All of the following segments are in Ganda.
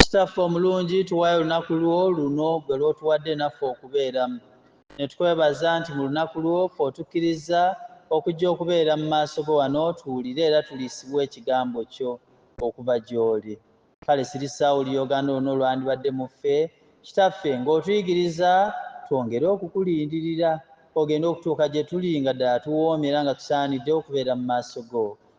Kitaffe omulungi, tuwaayo olunaku lwo luno ggwe lw'otuwadde naffe okubeeramu. Ne tukwebaza nti mu lunaku lwo ffe otukkirizza okujja okubeera mu maaso go wano tuwulire era tuliisibwe Ekigambo kyo okuva gy'oli. Kale sirisaawo Oluyoogaano lwonna olwandibadde mu ffe, Kitaffe, nga otuyigiriza twongere okukulindirira Ogende okutuuka gye tuli nga ddala tuwoomye era nga tusaanidde okubeera mu maaso go.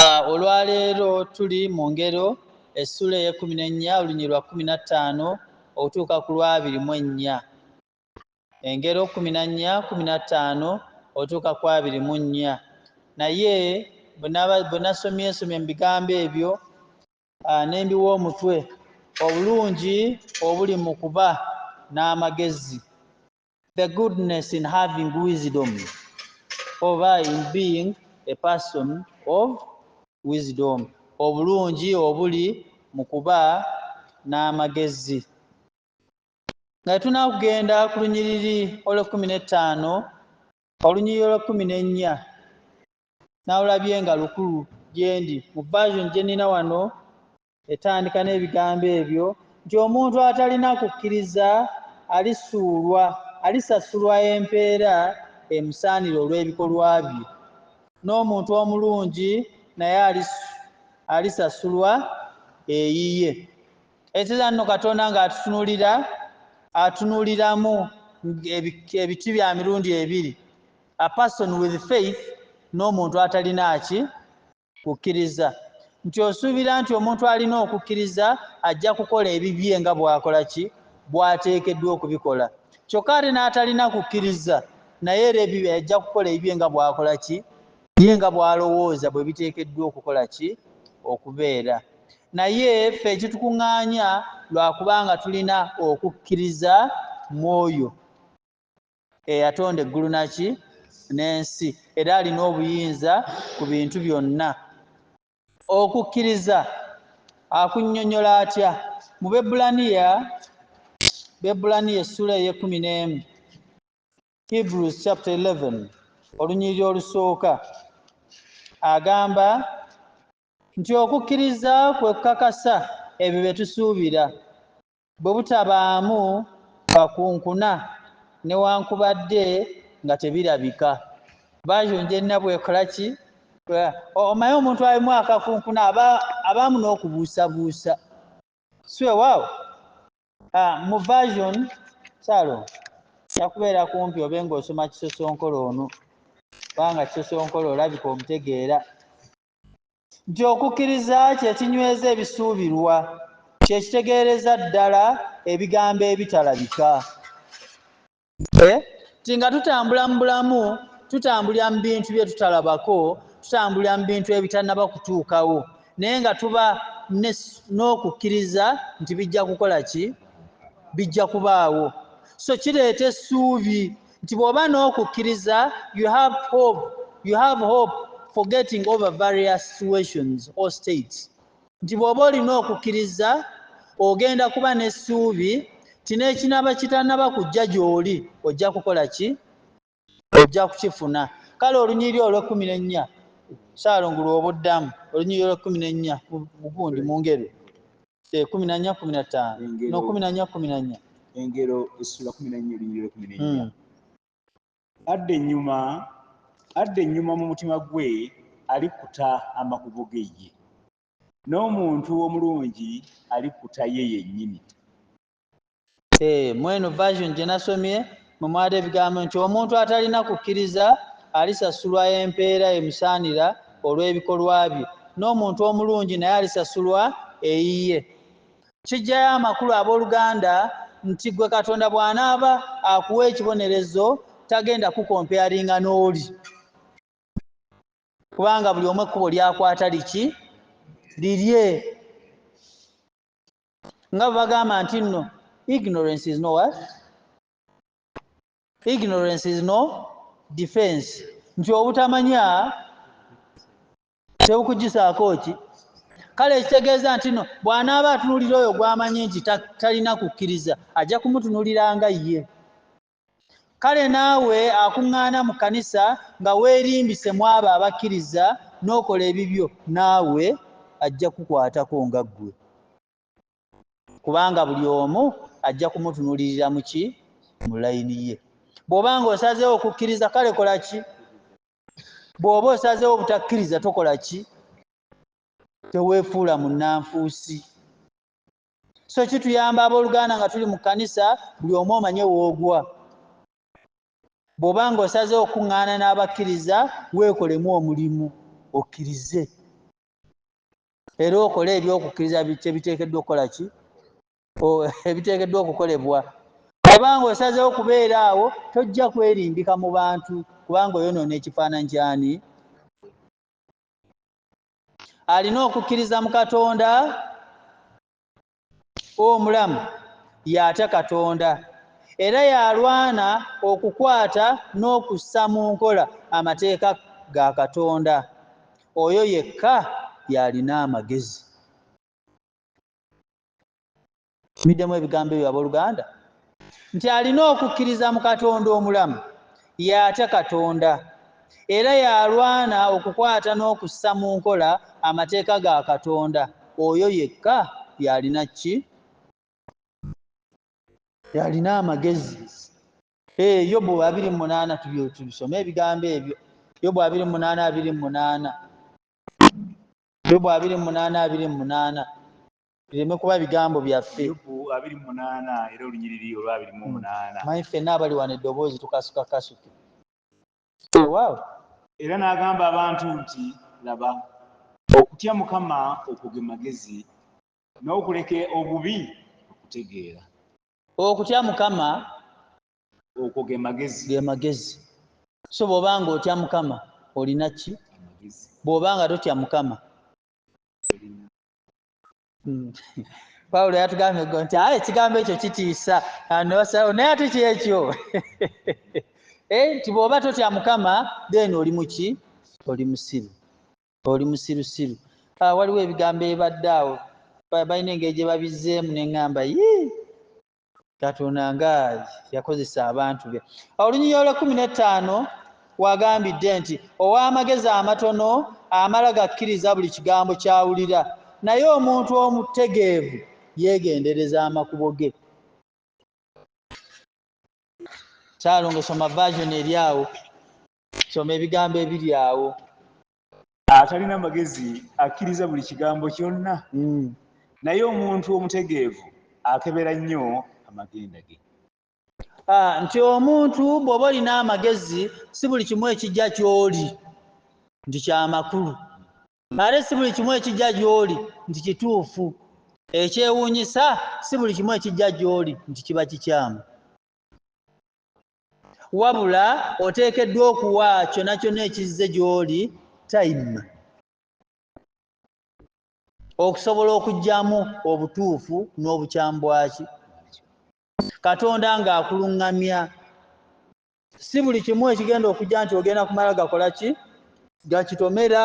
Ah, olwaleero tuli mu ngero essula ey'ekkumi n'ennya olunyiri lwa kkumi na ttaano okutuuka ku lwabiri mu ennya engero kkumi na nnya kkumi na ttaano otuuka ku abiri mu nnya naye bwe nasomye ensomye mu bigambo ebyo ah, ne mbiwa omutwe obulungi obuli mu kuba n'amagezi the goodness in having wisdom oba in being a person of wisdom obulungi obuli mu kuba n'amagezi nga tunakugenda ku lunyiriri olw'ekkumi n'ettaano olunyiriri olw'ekkumi n'ennya nawulabye nga lukulu gyendi mu version gye nina wano etandika n'ebigambo ebyo nti omuntu atalina kukkiriza alisuulwa alisasulwa empeera emusaanira olw'ebikolwa bye n'omuntu omulungi naye alisasulwa eyiye ekizira nno katonda ng'atutunulira atunuliramu ebiti bya mirundi ebiri a person with faith n'omuntu atalina ki kukkiriza nti osuubira nti omuntu alina okukkiriza ajja kukola ebibye nga bw'akola ki bw'ateekeddwa okubikola kyokka ate n'atalina kukkiriza naye era ebibye ajja kukola ebibye nga bw'akola ki ye nga bw'alowooza bwe biteekeddwa okukola ki okubeera naye ffe ekitukuŋŋaanya lwa kubanga tulina okukkiriza mu oyo eyatonda eggulu naki n'ensi era alina obuyinza ku bintu byonna okukkiriza akunyonyola atya mu bebulaniya bebulaniya essula eyekumi n'emu hebrews chapter 11 olunyiriri olusooka agamba nti okukkiriza kwe kukakasa ebyo bye tusuubira bwe butabaamu kakunkuna newankubadde nga tebirabika bajo njenna bwekola ki omaye omuntu alimu akakunkuna abaamu n'okubuusabuusa siwewaawo ah, mu version salo kyakubeera kumpi obe ng'osoma kisosonkolo ono kubanga kisosonkolo olabika omutegeera nti okukkiriza kye kinyweza ebisuubirwa, kye kitegeereza ddala ebigambo ebitalabika. E. Nti nga tutambula mu bulamu, tutambulira mu bintu bye tutalabako, tutambulira mu bintu ebitannaba kutuukawo, naye nga tuba n'okukkiriza nti bijja kukola ki? Bijja kubaawo. So kireeta essuubi. nti bw'oba n'okukkiriza you have hope you have hope for getting over various situations or states nti bw'oba olina okukkiriza ogenda kuba n'essuubi nti n'ekinaaba kitanaba kujja gy'oli ojja kukola ki ojja kukifuna kale olunyiri olw'ekkumi n'ennya saalongo lw'obuddamu olunyiri olw'ekkumi n'ennya mugundi mu ngeri Eh, kumi na nnya kumi na ttaano Engero. no kumi na nnya kumi na nnya engero essula kumi nannya ebinyiriro kumi nennya Mm. adda ennyuma adda ennyuma mu mutima gwe alikuta amakubo ge ye n'omuntu omulungi alikuta ye yennyini Eh, mweno version gye nasomye mwe mwali ebigambo nti omuntu atalina kukkiriza alisasulwa empeera emusaanira olw'ebikolwa bye n'omuntu omulungi naye alisasulwa eyiye kijjayo amakulu abooluganda nti gwe katonda bw'anaaba akuwa ekibonerezo tagenda kukompeyaringa n'oli kubanga buli omu ekkubo lyakwata liki lirye nga bagamba nti nno ignorance is no what ignorance is no defense nti obutamanya tebukugyisaako ki kale ekitegeeza nti no bw'anaaba atunulira oyo gw'amanyi nti talina kukkiriza ajja kumutunulira nga ye Kale naawe akuŋŋaana mu kkanisa nga weerimbise mu abo abakkiriza n'okola ebibyo, naawe ajja kukukwatako nga ggwe. Kubanga buli omu ajja kumutunuulirira mu ki? Mu layini ye. Bw'oba ng'osazeewo kukkiriza, kale kola ki? Bw'oba osazeewo obutakkiriza, tokola ki? Teweefuula munnanfuusi. so kituyamba abooluganda nga tuli mu kkanisa buli omu omanye woogwa bw'oba ng'osaze okuŋŋaana n'abakkiriza weekolemu omulimu okkirize era okole ebyokukkiriza kye biteekeddwa okukola ki ebiteekeddwa okukolebwa oba ng'osazeewo okubeera awo tojja kwerimbika mu bantu kubanga oyonoona ekifaananyi kyani alina okukkiriza mu katonda omulamu y'atya katonda era y'alwana okukwata n'okussa mu nkola amateeka ga katonda oyo yekka y'alina amagezi Middemu ebigambo ebyo abooluganda nti alina okukkiriza mu Katonda omulamu, y'atya Katonda, era y'alwana okukwata n'okussa mu nkola amateeka ga Katonda, oyo yekka y'alina ki? Y'alina amagezi. Ee, Yobu abiri mu munaana tubisome ebigambo ebyo. Yobu abiri mu munaana abiri mu munaana Yobu abiri mu munaana abiri mu munaana bireme kuba bigambo byaffe manyi ffenna abali wano eddoboozi tukasuka kasuke waaw era n'agamba abantu nti laba okutya mukama okwo ge magezi n'okuleka obubi okutegeera okutya mukama okwo ge magezi ge magezi so bw'oba nga otya mukama olina ki bw'oba nga totya mukama hmm. pawulo yatugambye go nti aye ekigambo ekyo kitiisa anosawo naye ate kyekyo eh, nti bw'oba totya mukama then oli muki oli musiru oli musirusiru ah, waliwo ebigambo ebadde awo balina engeri gye babizzeemu ne ŋŋamba yii katonda nga yakozesa abantu be olunyinyi olwekumi netaano wagambidde nti ow'amagezi amatono amala gakkiriza buli kigambo kyawulira naye omuntu omutegeevu yeegendereza amakubo ge kyalongo soma vajoni eri awo soma ebigambo ebiri awo atalina magezi akkiriza buli kigambo kyonna mm. naye omuntu omutegeevu akebera nnyo amagenda ge ah, nti omuntu bw'oba olina amagezi si buli kimu ekijja ky'oli nti kyamakulu ate si buli kimu ekijja gy'oli nti kituufu ekyewuunyisa si buli kimu ekijja gy'oli nti kiba kikyamu wabula oteekeddwa okuwa kyona kyona ekizze gy'oli time okusobola okugyamu obutuufu n'obukyambwaki katonda ng'akuluŋŋamya si buli kimu ekigenda okujja nti ogenda kumala gakola ki gakitomera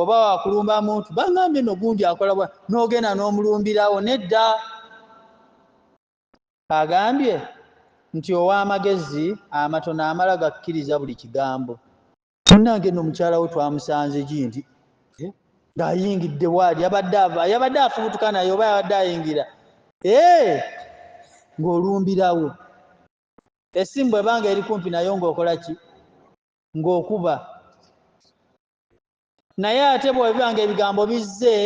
oba wakulumba muntu bangambye no gundi akolabwa n'ogenda n'omulumbirawo nedda agambye nti ow'amagezi amatono amala gakkiriza buli kigambo. Munnange nno mukyala we twamusanze gi nti eh, ng'ayingidde waali yabadde ava yabadde afubutuka naye oba yabadde ayingira eh, ng'olumbirawo essimu bw'ebanga eri kumpi nayo ng'okola ki ng'okuba naye ate bwebiba nga ebigambo bizze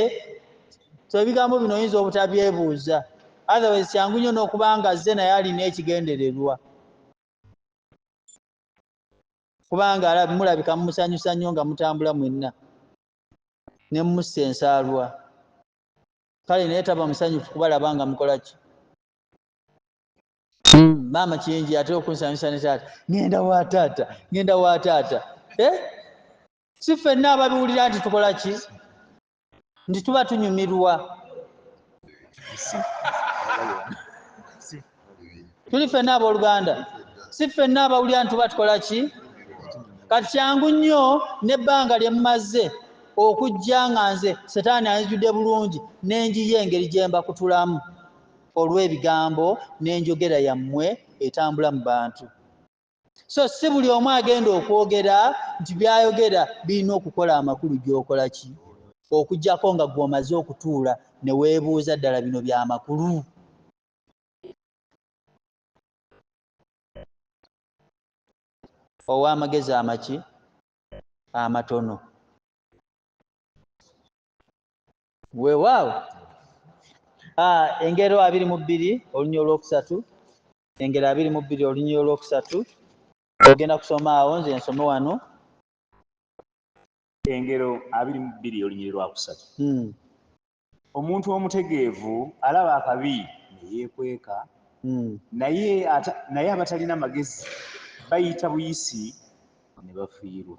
so ebigambo bino oyinza obutabyebuuza otherwise kyangu nnyo n'okuba nga zze naye alina ekigendererwa kubanga mulabika mumusanyusa nnyo nga mutambula mwenna ne mumussa ensaalwa kale naye taba musanyufu kubalaba nga mukola ki Hmm, maama kyenji ate okunsanyusa ne taata ngenda wa taata ngenda wa taata eh? si fenna ababiwulira nti tukola ki nti tuba tunyumirwa tuli fenna abooluganda si fenna abawulira nti tuba tukola ki kati kyangu nnyo n'ebbanga lye mmaze okujja nga nze setaani anzijudde bulungi n'enjiyo engeri gye mbakutulamu olw'ebigambo n'enjogera yammwe etambula mu bantu so si buli omu agenda okwogera nti byayogera birina okukola amakulu gy'okola ki okugyako nga gwomaze okutuula ne weebuuza ddala bino bya makulu ow'amagezi amaki amatono weewaawo ah, engero abiri mu bbiri olunya olwokusatu engero abiri mu bbiri olunya olwokusatu ogenda kusoma awo nze nsome wano engero abiri mu bbiri olunya olwakusatu hmm. omuntu omutegeevu alaba akabi neyeekweka hmm. naye abatalina magezi bayita buyisi ne bafiirwa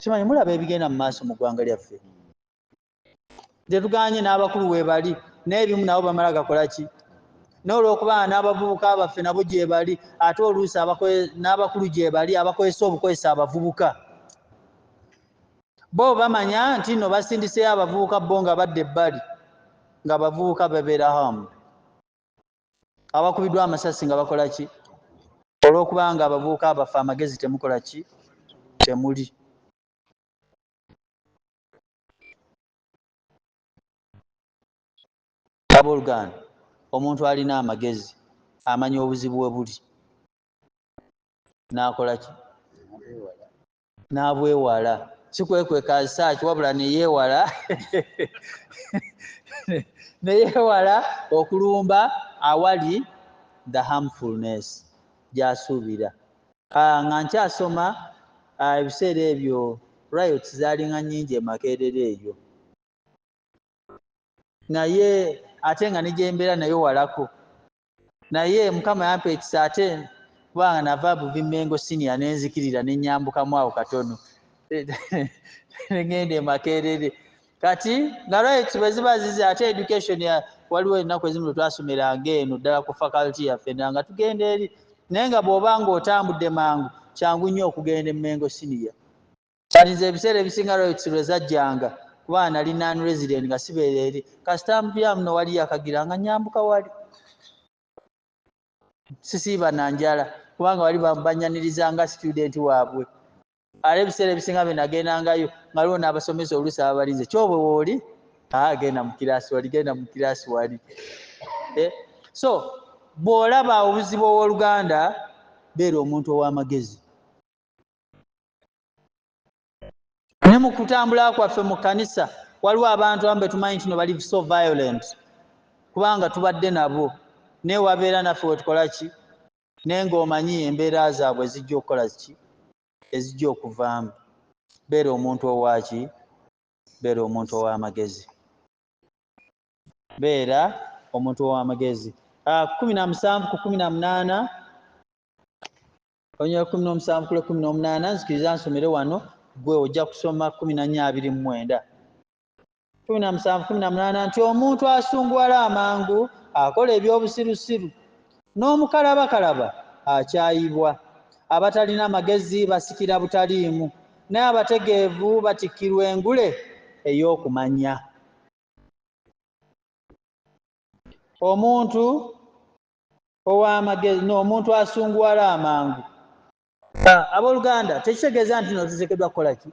kimanyi mulaba ebigenda mu maaso mu ggwanga lyaffe tetuganye n'abakulu webali n'ebimu nabo bamala gakola ki n'olwokuba n'abavubuka baffe nabo gyebali ate oluusi n'abakulu gyebali abakozesa obukozesa abavubuka bo bamanya nti no basindiseyo abavubuka bo nga badda ebbali nga abavubuka babeera hamu abakubiddwa amasasi nga bakola ki olw'okuba nga abavubuka abaffe amagezi temukola ki temuli abooluganda omuntu alina amagezi amanya obuzibu we buli n'akola ki n'abwewala si kwekwekazisaaki wabula neyeewala neyeewala okulumba awali the harmfulness gyasuubira ah, nga nkyasoma ah, ebiseera ebyo riots zaalinga nnyingi emakeerera eyo naye ate nga negyembeera nayo walako naye mukama yampa ekisa ate kubanga nava buvimengo sinia nenzikirira nenyambukamu awo katono negenda emakerere kati nga right bweziba zize ate education waliwo ennaku ezimu lwetwasomeranga eno ddala ku faculty yaffe nanga tugenda eri naye nga bwoba nga otambudde mangu kyangu nnyo okugenda emengo sinia But nze ebiseera ebisinga Royx lwe zajjanga kuba nali non resident nga sibeera eri kasita mpya muno wali yakagira nga nyambuka wali sisiiba na njala kubanga wali banyaniriza nga student waabwe ale ebiseera ebisinga bye nagendangayo nga liwo n'abasomesa oluusi ababalinze kyobwe wooli agenda mu kiraasi wali genda mu kiraasi wali eh, so bw'olaba obuzibu ow'oluganda beera omuntu ow'amagezi ne mu kutambula kwaffe mu kkanisa waliwo abantu amu betumanyi ntino bali so violent kubanga tubadde nabo naye wabeera naffe wetukola ki naye ngaomanyi embeera zaabwe ezijja okukola ki ezijja okuvaamu beera omuntu owaki beera omuntu ow'amagezi beera omuntu ow'amagezi ah, kumi na musanvu ku kumi na munaana olunyira kumi n'omusanvu kule kumi n'omunaana nzikiriza nsomere wano gwe ojja kusoma kumi na nnya abiri mu mwenda kumi na musanvu kumi na munaana nti omuntu asunguwala amangu akola eby'obusirusiru n'omukalabakalaba akyayibwa abatalina magezi basikira butaliimu naye abategeevu batikkirwa engule ey'okumanya omuntu ow'amagezi n'omuntu asunguwala amangu ah, abooluganda tekitegeeza nti no tuteekeddwa kukola ki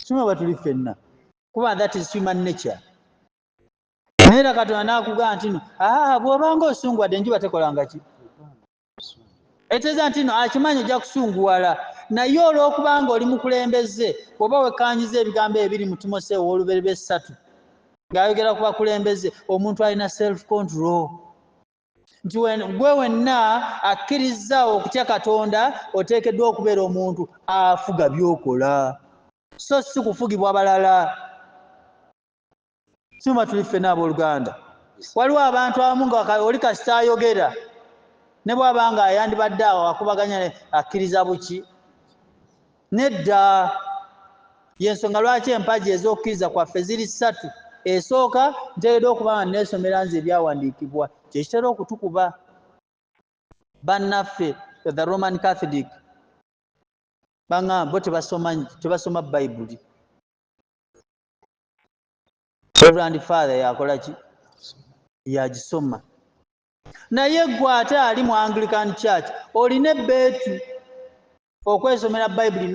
sima bwe tuli ffenna kuba that is human nature naye era katonda n'akugamba nti no ah, bw'obanga osunguwadde enjuba tekolanga ki etegeeza nti no akimanyi ojja kusunguwala naye olw'okubanga oli mukulembeze oba wekkaanyiza ebigambo ebiri mu timoseewo ow'oluberebe essatu ng'ayogera ku bakulembeze omuntu alina self control nti gwe wenna akkirizza okutya katonda oteekeddwa okubeera omuntu afuga byokola so si kufugibwa balala sima tuli ffena abooluganda waliwo abantu abamu nga oli kasita ayogera ne bwaba nga ayandibadde awo akubaganya akkiriza buki nedda yensonga lwaki empagi ez'okukkiriza kwaffe ziri ssatu esooka nteereddwa okuba nga neesomera nze ebyawandiikibwa kye kitera okutukuba bannaffe the roman catholic baŋamba bo tebasoma tebasoma bayibuli reverand father yakola ki yagisoma naye gwe ate ali mu anglican church olina ebbeetu okwesomera bayibuli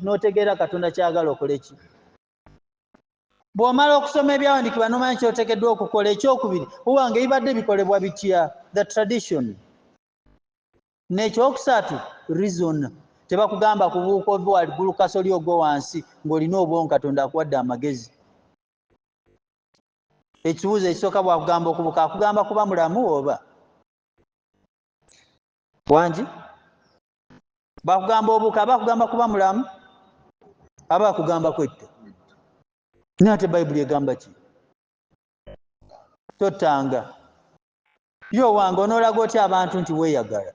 n'otegeera katonda kyagala okole ki bw'omala okusoma ebyawandiikibwa n'omanya kyotekeddwa okukola ekyokubiri uwanga ebibadde bikolebwa bitya the tradition n'ekyokusatu reason tebakugamba kubuuka ove waligulu kasoli ogwo wansi ng'olina obwongo katonda akuwadde amagezi ekibuuzo ekisooka bwakugamba okubuka akugamba kuba mulamu oba wangi bakugamba obuka abakugamba kuba mulamu aba akugamba kwetta naye ate bayibuli egamba ki tottanga yo wange onoolaga otya abantu nti weeyagala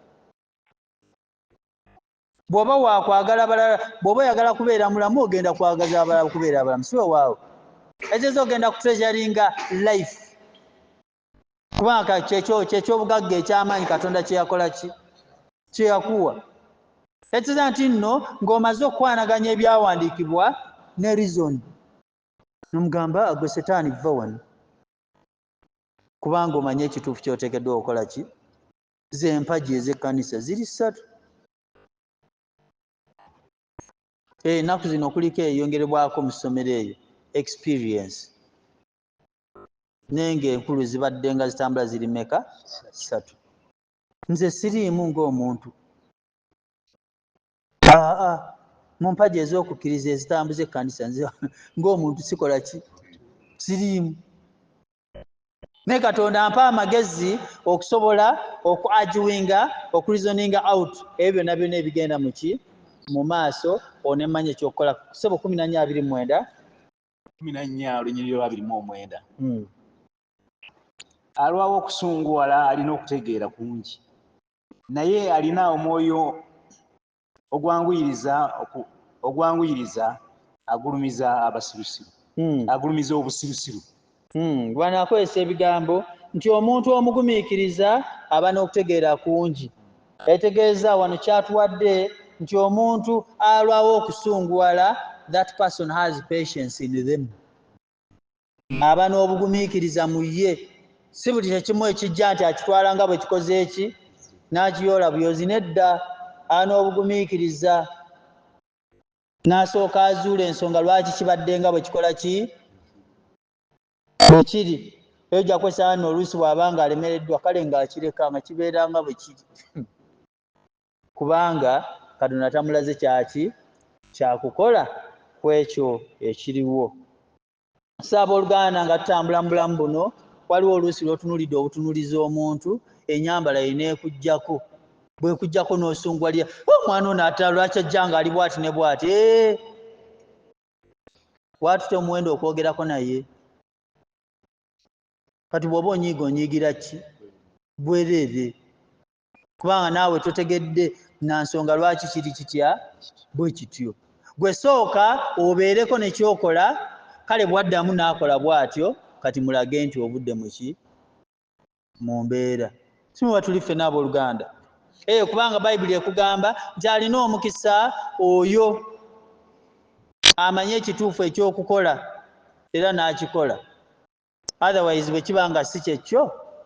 bw'oba waakwagala balala bw'oba oyagala kubeera mulamu ogenda kwagaza abalala kubeera abalamu si wewaawo ekiteeza ogenda kutreasuringa life kubanga kyekyo kyekyobugagga ekyamaanyi katonda kyeyakola ki kyeyakuwa ekiza nti nno ng'omaze okukwanaganya ebyawandiikibwa ne rizoni nomugamba agwe setaani vva wano kubanga omanye ekituufu kyoteekeddwa okukola ki zempagi ez'ekkanisa ziri ssatu ennaku zino kuliko eyongerebwako mu ssomero eyo experience naye ngaenkulu zibadde nga zitambula ziri meka satu nze siriimu ngaomuntu aa mu mpaji ez'okukkiriza ezitambuza ekkanisa nze ngaomuntu sikola ki siriimu naye katonda mpa amagezi okusobola okuagiwinga okureasoninga out ebyo byonna byonna ebigenda muki mu maaso onemanya ekyokukola sebo kumi nanya abiri mwenda kumi na nnya olunyiriri lwa birimu omwenda hmm. alwawo okusunguwala alina okutegeera kungi naye alina omwoyo ogwanguyiriza ogwanguyiriza agulumiza abasirusiru hmm. agulumiza obusirusiru hmm. bwana akozesa ebigambo nti omuntu omugumiikiriza aba n'okutegeera kungi yategeeza wano kyatuwadde nti omuntu alwawo okusunguwala that person has patience in them aba n'obugumiikiriza mu ye si buli kyekimu ekijja nti akitwala nga bwe kikoze eki n'akiyoola buyozi nedda aba n'obugumiikiriza n'asooka azuula ensonga lwaki kibadde nga bwe kikola ki ekiri eyo gyakwesanga no oluusi bw'aba nga alemereddwa kale ng'akireka nga kibeera nga bwe kiri kubanga katonda tamulaze kyaki kyakukola ku ekyo ekiriwo so abooluganda nga tutambula mu bulamu buno waliwo oluusi lw'otunulidde obutunuliza omuntu enyambala ye neekuggyako bwekujjako n'osunguwalira omwana ono ata lwaki ajja nga ali bwati ne bwati eh! watute omuwendo okwogerako naye kati bwoba onyiiga onyiigira ki bwereere kubanga naawe totegedde na nsonga lwaki kiri kitya bwe kityo gwe sooka obeereko nekyokola kale bwaddamu naakola bwatyo kati mulage nti obudde muki mu mbeera simuba tuli ffena abooluganda eyo eh, kubanga bayibuli ekugamba nti alina omukisa oyo amanye ekituufu ekyokukola era n'akikola otherwise bwe kiba nga si kyekyo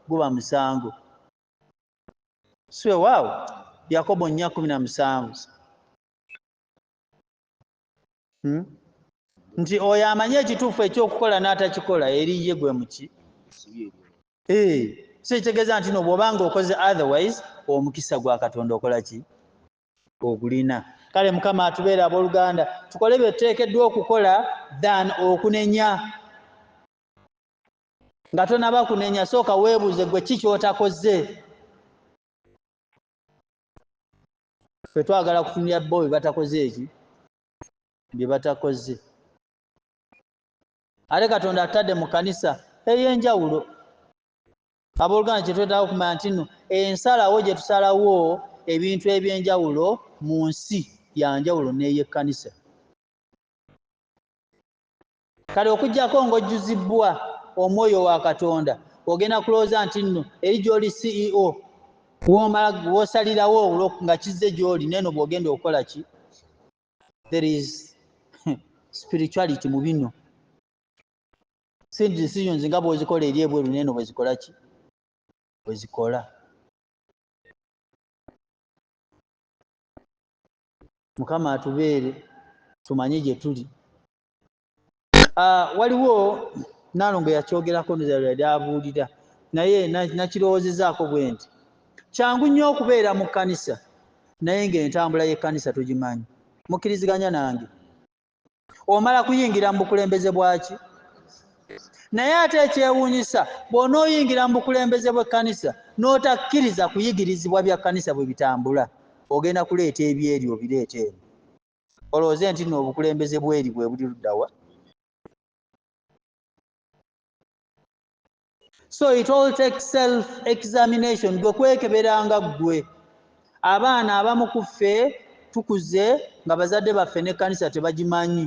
guba musango siwewaawo yakobo nnya kumi na musanvu hmm? nti oyo amanyi ekituufu ekyokukola n'atakikola eri ye gwe muki eh, so ekitegeeza nti no bwoba nga okoze otherwise omukisa gwa katonda okola ki ogulina kale mukama atubeera abooluganda tukole bye tuteekeddwa okukola than okunenya nga tonaba kunenya sooka weebuuze gwe ki kyotakoze ffe twagala kutumya bo byebatakoze eki byebatakoze ate katonda atadde mu kanisa eyenjawulo abooluganda kyetwetaaga okumanya nti no ensalawo gye tusalawo ebintu ebyenjawulo mu nsi yanjawulo n'eyekkanisa kale okujjako ng'ojjuzibbwa omwoyo wa katonda ogenda kulowooza nti nno eri gy'oli ceo womala wosalirawo nga kizze gy'oli neeno bw'ogenda okukola ki there is spirituality mu bino si decisions nga bw'ozikola eri ebweru neeno bwezikola ki bwezikola mukama atubeere tumanye gye tuli ah, waliwo nalongo yakyogerako yali abuulira naye nakirowozezaako bwe nti kyangu nnyo okubeera mu kkanisa naye ng'entambula y'ekkanisa tugimanyi mukkiriziganya nange omala kuyingira mu bukulembeze bwaki naye ate ekyewuunyisa bw'onooyingira mu bukulembeze bw'ekkanisa n'otakkiriza kuyigirizibwa bya kkanisa bwe bitambula ogenda kuleeta ebyeri obireeta eno olowooze nti no obukulembeze bweri bwe buli luddawa so it all takes self examination gwe kwekeberanga ggwe abaana abamu ku ffe tukuze nga bazadde baffe n'ekkanisa tebagimanyi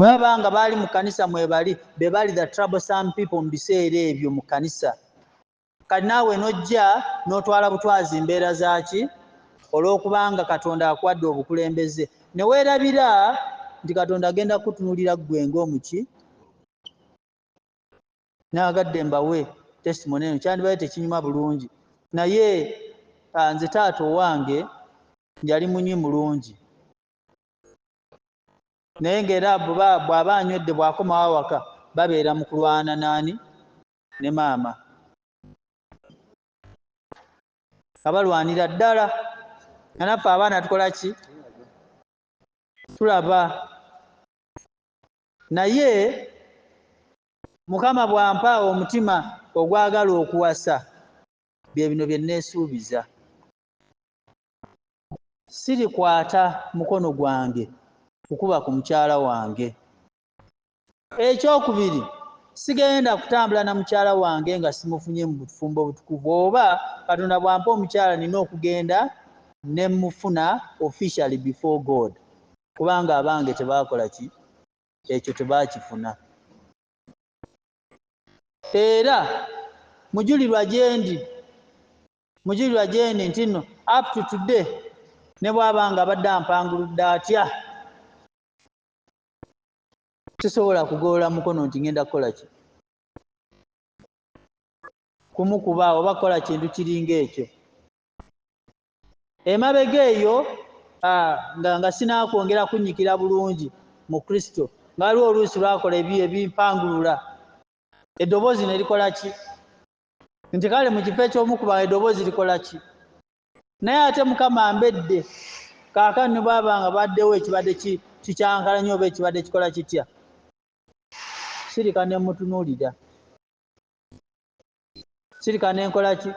baba nga baali mu kkanisa mwebali be bali the trouble some people mu biseera ebyo mu kkanisa kati naawe n'ojja n'otwala butwazi mbeera zaaki olw'okubanga katonda akuwadde obukulembeze ne weerabira nti katonda agenda kukutunulira ggwe ng'omuki nagadde mbawe testimony eno kyandibadde tekinyuma bulungi naye ah, nze taata owange yali munywi mulungi naye ngaera bwaba anywedde bwakomawo awaka babeera mu kulwana naani ne maama abalwanira ddala anaffe abaana tukola ki tulaba naye mukama bwampa omutima ogwagala okuwasa bye bino bye nneesuubiza sirikwata mukono gwange kukuba ku mukyala wange ekyokubiri sigenda kutambula na mukyala wange nga simufunye mu bufumbo obutukuvu oba katonda bwampa omukyala nina okugenda ne mufuna officially before god Kubanga abange tebaakola ki? Ekyo tebaakifuna. Era mujulirwa gyendi, mujulirwa gyendi nti nno up to today ne bw'aba nga abadde ampanguludde atya, sisobola kugolola mukono nti ŋenda kukola ki? Kumukuba oba kukola kintu kiringa ekyo. emabega eyo nga nga sinaakwongera kunnyikira bulungi mu kristo nga waliwo oluusi lwakola ebi ebimpangulula eddoboozi ne likola ki nti kale mu kifo ekyomukuba eddoboozi likola ki naye ate mukama mbedde kaakani ne bwaba nga baddewo ekibadde kikyankala nyo oba ekibadde kikola kitya sirika ne mutunuulira sirika nenkola ki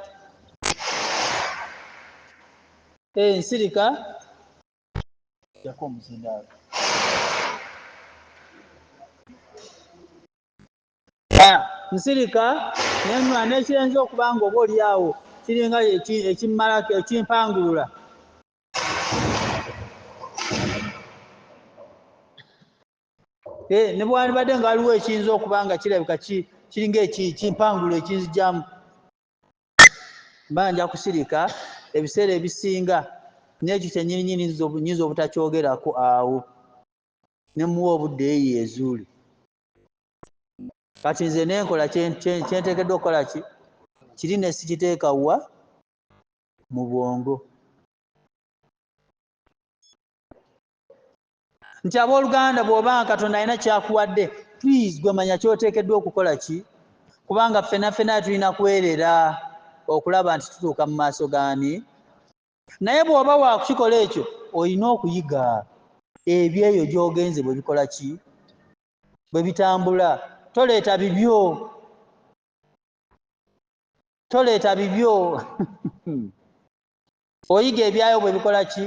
eh, nsirika jako omuzindaalo ah, nsirika nenwa nekyenza okuba nga oba olyawo kiringa ekimmalako ekimpangulula Eh, ne bwalibadde nga waliwo ekiyinza okuba nga kirabika kiringa ekimpangulo ekinzijamu mba nja kusirika ebiseera ebisinga nekyo kyenyininyini nyinza obutakyogerako awo nemuwa obudde eyo ezuuli kati nze nenkola kyentekeddwa okukola ki kiri nesikiteeka wa mu bwongo nti abooluganda bw'oba nga katonda alina kyakuwadde please gwe manya kyoteekeddwa okukola ki kubanga ffena ffena tulina kwerera okulaba nti tutuuka mu maaso gaani naye bw'oba waakukikola ekyo olina okuyiga ebyo eyo gy'ogenze bwe bikola ki bwe bitambula toleeta bibyo toleeta bibyo oyiga ebyayo bwe bikola ki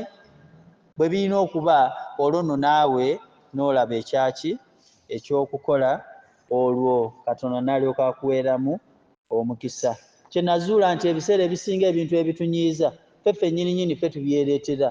bwe birina okuba olwo nno naawe n'olaba ekyaki ekyokukola olwo katonda nalyoka akuweeramu omukisa kye nazuula nti ebiseera ebisinga ebintu ebitunyiiza ffe ffenyini nyini ffe tubyereetera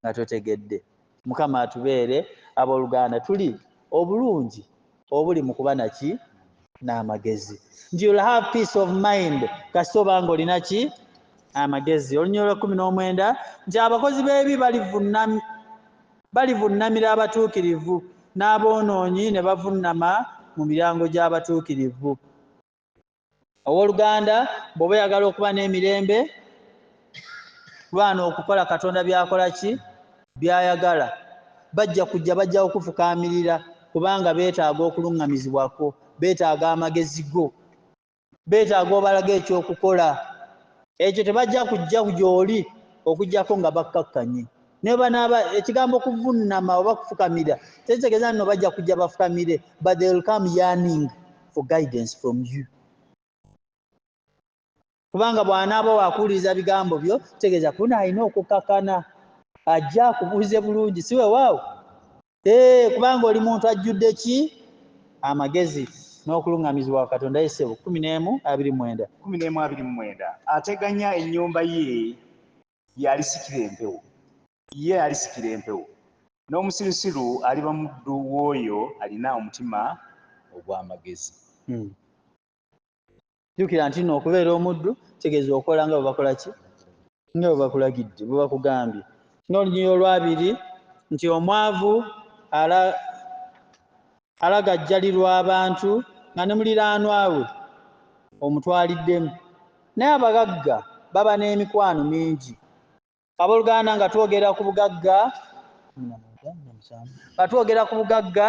nga totegedde mukama atubeere aboluganda tuli obulungi obuli mu kuba naki n'amagezi nti you'll have peace of mind kasita obanga olina ki amagezi olunya olwa kumi n'omwenda nti abakozi b'ebi balivunnamira abatuukirivu n'aboonoonyi ne bavunnama mu miryango gy'abatuukirivu owoluganda bwoba oyagala okuba n'emirembe lwana okukola katonda byakola ki byayagala bajja kujja bajja okufukaamirira kubanga beetaaga okuluŋŋamizibwako beetaaga amagezi go beetaaga obalaga ekyokukola ekyo tebajja kujja gyoli okujjako nga bakkakkanye nebanaaba ekigambo kuvunnama oba kufukamira tekitegeza nno bajja kujja bafukamire but they will come yearning for guidance from you kubanga bwanaaba wakuwuliriza bigambo byo tegeeza kuna alina okukakana ajja akubuuze bulungi si wewaawo ee kubanga oli muntu ajjudde ki amagezi n'okulungamizibwa wa katonda yesebo kumi n'emu abiri mwenda kumi n'emu abiri mwenda ateganya ennyumba ye y'alisikira empewo ye alisikira empewo n'omusirusiru aliba muddu w'oyo alina omutima ogw'amagezi hmm. jjukira nti no okubeera omuddu tegeeza okola nga bwebakola ki nga bwebakulagidde bwebakugambye n'olunyiri olwabiri nti omwavu ala alagajjalirwa abantu nga ne muliraanwa we omutwaliddemu naye abagagga baba n'emikwano mingi abooluganda nga twogera ku bugagga nga twogera ku bugagga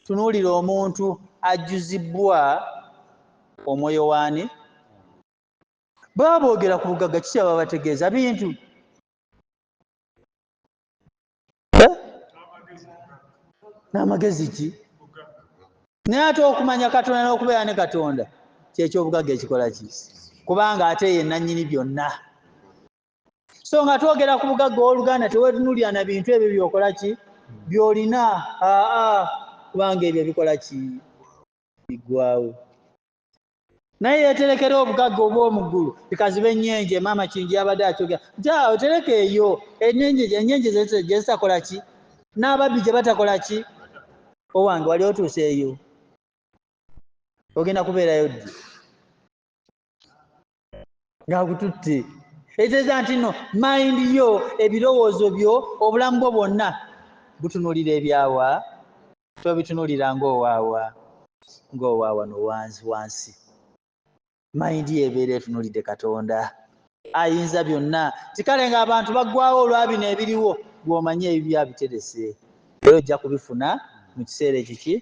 tunuulira omuntu ajjuzibbwa omwoyo waani baba boogera ku bugagga kiki baba bategeeza bintu eh? n'amagezi ki naye ate okumanya katonda n'okubeera ne katonda kyekyobugagga ekikola ki kubanga ate ye nannyini byonna so nga twogera ku bugagga ow'oluganda tewetunulira na bintu ebyo byokola ki byolina aa kubanga ebyo bikola ki biggwawo naye yeterekera obugagga obwomuggulu bikaziba ennyenje maama kingi yabadde akyogera nti awo tereka eyo ennyenje gyezitakola ki n'ababbi gye batakola ki owange wali otuuse eyo ogenda kubeerayo ddi ng'akututte etegeeza nti no mayindi yo ebirowoozo byo obulamu bwo bwonna butunuulira ebyawa tobitunuulira ng'owaawa ng'owaawa nowansi wansi mayindi yo ebeera etunuulidde katonda ayinza byonna tikale ng'abantu baggwawo olwa bino ebiriwo gw'omanyi ebibyo abiterese era ojja kubifuna mu kiseera ekiki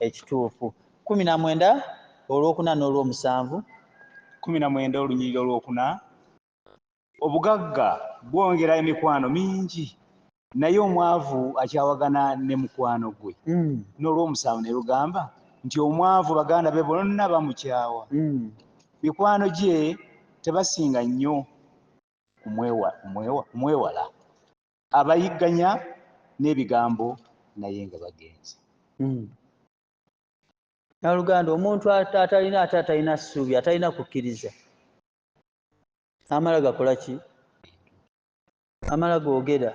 ekituufu Kkumi na mwenda olwokuna n'olwomusanvu. Kkumi na mwenda olunyiriri olwokuna. Obugagga bwongera emikwano mingi, naye omwavu akyawagana ne mukwano gwe. N'olwomusanvu ne lugamba nti, Omwavu baganda be bonna bamukyawa, mikwano gye tebasinga nnyo kumwewala. Abayigganya n'ebigambo naye nga bagenze. naluganda omuntu atalina ate atalina ssuubi atalina kukkiriza amala gakola ki amala googera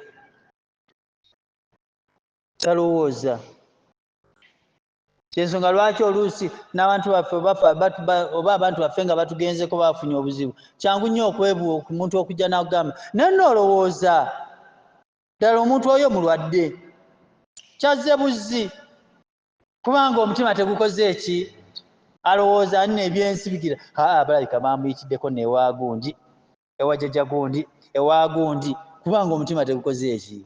talowooza kyensonga lwaki oluusi n'abantu baffe oba abantu baffe nga batugenzeko bafunye obuzibu kyangu nnyo okwebuwa omuntu okujja n'akugamba naye noolowooza ddala omuntu oyo mulwadde kyazze buzzi kubanga omutima tegukoze eki alowooza ani nebyensibigira aa balabika bamuyitiddeko newagundi ewajaja gundi ewagundi kubanga omutima tegukoze eki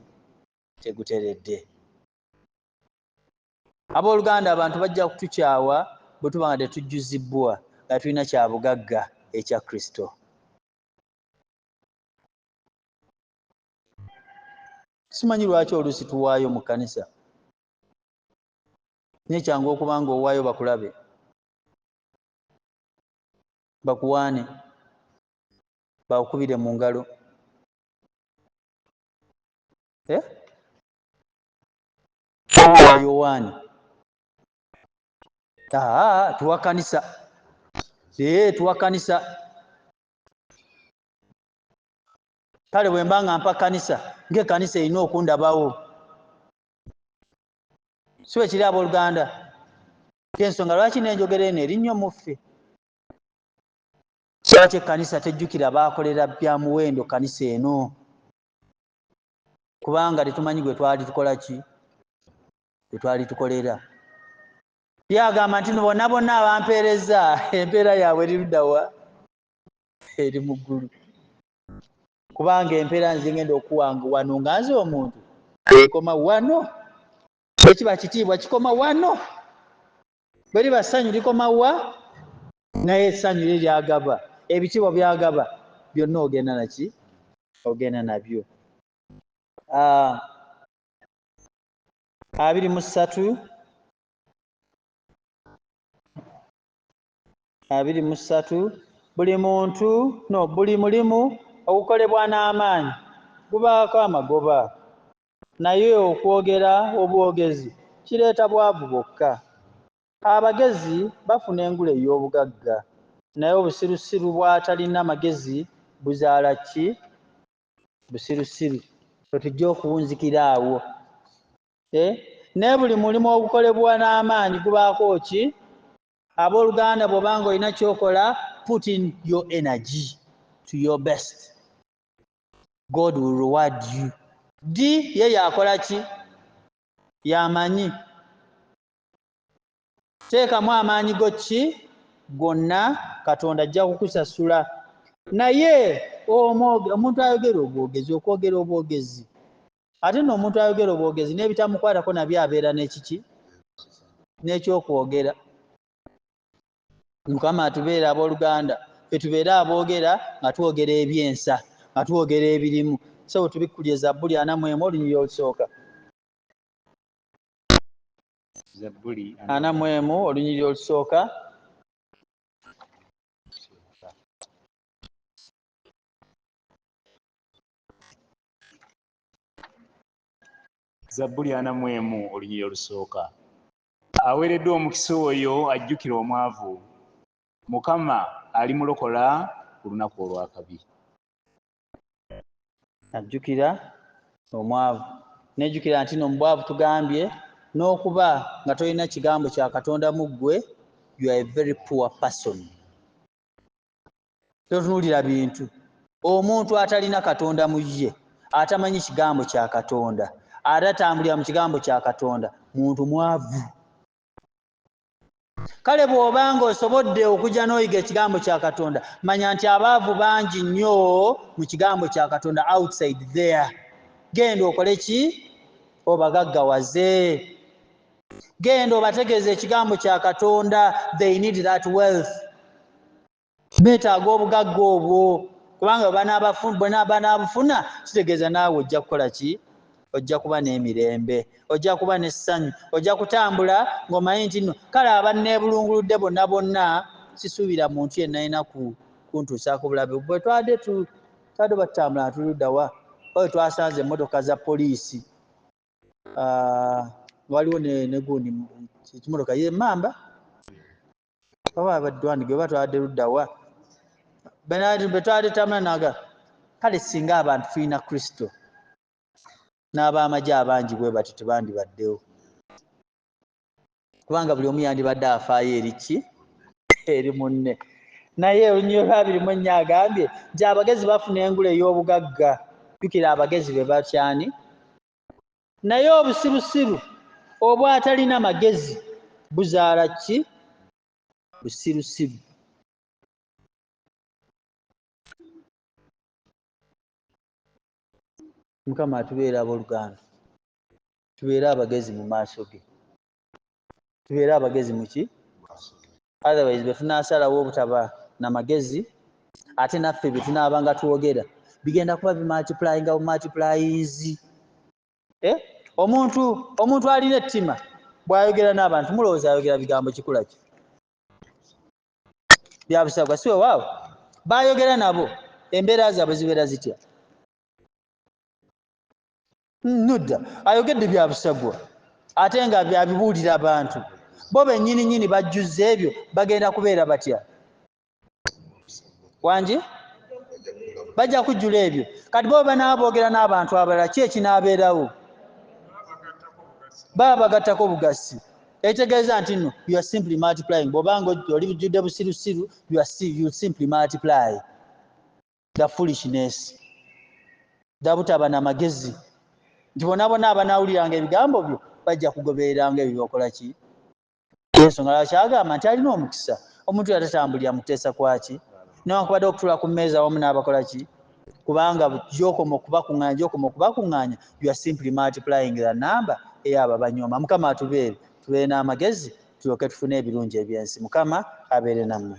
teguteredde abooluganda abantu bajja kutukyawa bwe tuba nga tetujjuzibbwa nga tulina kya bugagga ekya kristo simanyi lwaki oluusi tuwaayo mu kkanisa naye kyangu okuba nga owaayo bakulabe bakuwaane bakukubire mu ngalo eh? yowaani tuwakanisa tuwakanisa kale bwe mba nga mpa kkanisa ng'ekkanisa erina okundabawo si bwe kiri abooluganda kyensonga lwaki n'enjogera eno eri nnyo muffe lwaki ekkanisa tejjukira baakolera bya muwendo kkanisa eno kubanga tetumanyi gwe twali tukola ki gwe twali tukolera ye agamba nti bona bonna abampeereza empeera yaabwe eri luddawa eri mu ggulu kubanga empeera nze ngenda okuwanga wano nga nze omuntu ekoma wano ekiba kitiibwa kikoma wano bwe liba ssanyu likoma wa naye essanyu lye lyagaba ebitiibwa byagaba byonna ogenda naki ogenda nabyo ah, abiri mu ssatu abiri mu ssatu buli muntu no buli mulimu ogukolebwa n'amaanyi gubaako amagoba naye okwogera obwogezi kireeta bwavu bwokka. Abagezi bafuna engule ey'obugagga naye obusirusiru bw'atalina magezi buzaala ki? Busirusiru. Ffe tujja okuwunzikira awo e. Naye buli mulimu ogukolebwa n'amaanyi gubaako ki? Abooluganda bw'oba nga olina ky'okola, put in your energy to your best. God will reward you. Ddi ye yakola ki? Y'amanyi. Teekamu amaanyi go ki gonna, Katonda ajja kukusasula. Naye omuntu ayogera obwogezi, okwogera obwogezi, Ate nno omuntu ayogera obwogezi n'ebitamukwatako nabyo abeera n'ekiki? N'ekyokwogera. Mukama atubeere abooluganda, ffe tubeere aboogera nga twogera eby'ensa, nga twogera ebirimu. Ssebo tubikkulire Zabbuli ana mu emu olunyiriri olusooka. Zabbuli ana mu emu olunyiriri olusooka. zabbuli ana mu emu olunyiri olusooka aweereddwa omukisa oyo ajjukira omwavu mukama alimulokola ku lunaku olwakabi ajjukira omwavu nejjukira nti no mubwavu tugambye n'okuba nga tolina kigambo kya katonda mu ggwe you are a very poor person totunuulira bintu omuntu atalina katonda mu ye atamanyi kigambo kya katonda ate atambulira mu kigambo kya katonda muntu mwavu kale bw'oba nga osobodde okujja n'oyiga ekigambo kya katonda manya nti abaavu bangi nnyo mu kigambo kya katonda outside there genda okole ki obagaggawaze genda obategeeza ekigambo kya katonda they need that wealth betaaga obugagga obwo kubanga banaabufuna kitegeeza naawe ojja kukola ki ojja kuba n'emirembe ojja kuba n'essanyu ojja kutambula ng'omanyi nti nno kale abanneebulunguludde bonna bonna sisuubira muntu yenna yina ku kuntuusaako bulabe bwe twade tu twade batutambula natuluddawa oyo twasanze emmotoka za poliisi ah, waliwo negundi ekimotoka ye mamba baba badwani gwe batwade luddawa benati betwade tamula naga kale singa abantu tulina kristo n'ab'amagye abangi bwe batyo tebandibaddewo kubanga buli omu yandibadde afaayo eri ki eri munne naye olunyiro lwabiri mu ennya agambye nti abagezi bafuna engula ey'obugagga jukira abagezi be batyani naye obusirusiru obwatalina magezi buzaala ki busirusiru mukama atubeera aboluganda tubeere abagezi mu maaso ge tubeere abagezi muki otherwise bwetunasalawo obutaba na magezi ate naffe byetunaabanga twogera bigenda kuba bimultiplyinga bumultiplyinzi eh? omuntu omuntu alina ettima bwayogera n'abantu mulowooza ayogera bigambo kikula ki byabusagwa si wewaawo bayogera nabo embeera zaabwe zibeera zitya nudda ayogedde bya busagwa ate nga byabibuulira abantu bo bennyini nyini bajjuzza ebyo bagenda kubeera batya wangi bajja kujjula ebyo kati bo banaaba boogera n'abantu abalala ki ekinaabeerawo baba bagattako obugassi ekitegeeza nti no you are simply multiplying bwobanga oli bujjudde busirusiru you are see, you simply multiply the foolishness dabutaba na magezi nti bona bona abanawuliranga ebigambo byo bajja kugobereranga ebyo byokola ki ensonga lwaki agamba nti alina omukisa omuntu yatatambulira mukuteesa kwaki newankubadde okutula ku mmeeza wamu n'abakola ki kubanga gyokoma okubakuŋanya gyokoma okubakuŋanya you are simply multiplying the number eyabo abanyoma mukama atubeere tubeere n'amagezi tulyoke tufune ebirungi ebyensi mukama abeere nammwe